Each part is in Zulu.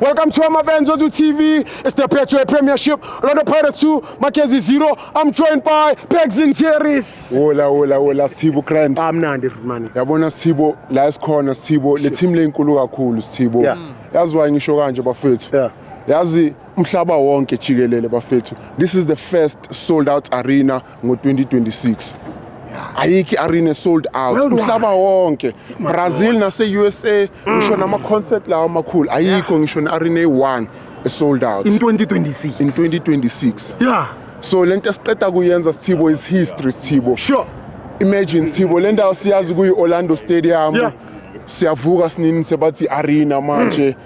Welcome to Amabenz Odu TV. It's the Petro Premiership. Orlando Pirates 2, Mackenzie 0. I'm joined by Pegs and Cherries. Hola, hola, hola. Sthibo Grand. I'm Nandi Rudmani. Yabona Sthibo, la esikhona Sthibo, le team lenkulu kakhulu Sthibo. Yeah. Yazi why ngisho kanje bafethu. Yeah. Yazi umhlaba wonke jikelele bafethu. This is the first sold out arena ngo-2026 ayikho i-arena esold out Worldwide. umhlaba wonke brazil nase-usa ngisho nama-concert lawo amakhulu ayikho ngisho ne-arena eyi-one esold out in 2026 in 2026 yeah so le nto esiqeda kuyenza sithibo is history sithibo sure imagine sithibo le ndawo siyazi kuyi-orlando stadium Yeah. siyavuka sinini sebathi arena manje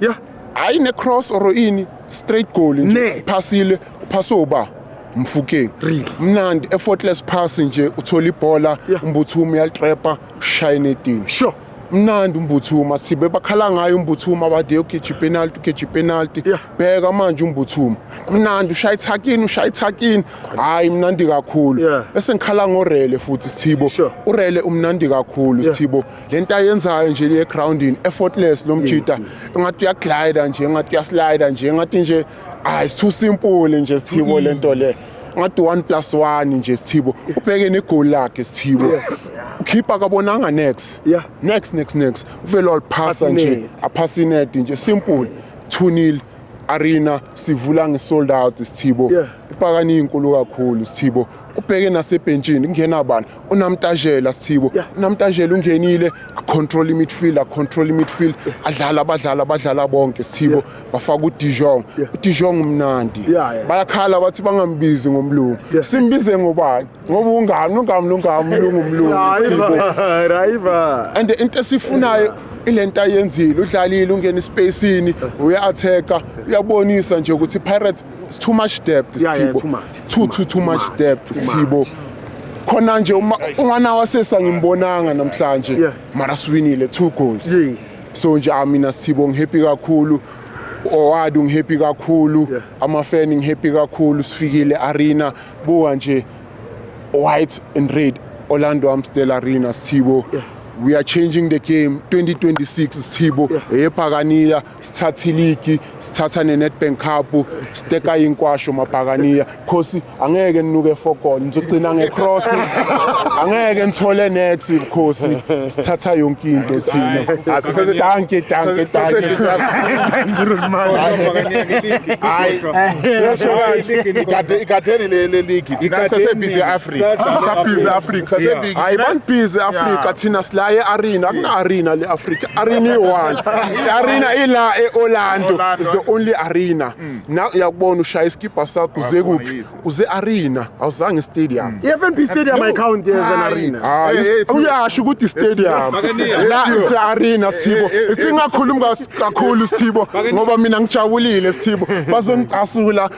Yeah. hayi necross or ini straight goal Ne. nje phasile uphase uba mfukeng Really? mnandi effortless pass nje uthola ibhola Yeah. umbuthuma uyalitrepa ushaya netini Sure. mnandi umbuthuma sibe bakhala ngayo umbuthuma bade yogeja ipenalty ugeja ipenalty Yeah. bheka manje umbuthuma mnandi ushaya ithakini ushaya ithakini hhayi mnandi kakhulu Yeah. bese ngikhala ngorele futhi sithibo Sure. urele umnandi kakhulu Yeah. sithibo le nto ayenzayo nje le groundini effortless lo mjita engathi uyaglida nje engathi uyaslida nje engathi nje hayi it's too simple nje sithibo le nto le ngathi 1 plus 1 nje sithibo ubheke negoli lakhe sithibo ukhipha kabonanga next Yeah. next next next uvele waliphasa Aphase nje inet. aphasa inet nje simple 2 nil arena sivula ngesold out sithibo Yeah. upakani inkulu kakhulu sithibo ubheke nasebhentshini kungena bani unamtajela sithibo unamtajela ungenile control midfield control midfield adlala abadlala abadlala bonke sithibo bafaka udijong udijong umnandi bayakhala bathi bangambizi ngomlungu simbize ngobani ngoba ungami ungami lungami umlungu umlungu and into esifunayo ilento ayenzile udlalile ungena espacini uya-atheka uyabonisa nje ukuthi pirates It's too much depth Yeah, yeah, Sithibo. too much. Too, Too too, much, too too much much, depth too Sithibo. Khona nje uma ungana wasesa ngimbonanga namhlanje. Yeah. Mara siwinile two goals. Yes. So nje ah, mina Sithibo ngihappy kakhulu. Oward ngihappy kakhulu. Yeah. Ama fan ngihappy kakhulu. Sifikile arena buka nje white and red Orlando Amstel Arena Sithibo. Yeah. We are changing the game 2026 Sithibo. Yeah. Eyephakanila sithatha iligi sithatha ne-nedbank cup siteka inkwasho mabhakaniya khosi angeke ninuke efokon ngizogcina ngecross angeke nithole nex bukhosi sithatha yonke into thina danke danke danke ikadeni leligi sasebhizi africa sasebhizi africa hayi banibhizi afrika thina sila e-arena akuna-arena le afrika arena iyi-one i-arena ila e-orlando Orlando. is the only arena na uyakubona ushaya isikibha sakho uze Wakhona kuphi yize. uze arena awuzange istadium i-fnb stadium ayicount yeza Hayi. narina Ah, Hey, is- hey, it's- uyasho ukuthi istadium la ise-arena sithibo Eh, eh, eh. singakhulumi kas- kakhulu sithibo ngoba mina ngijabulile sithibo bazongicasula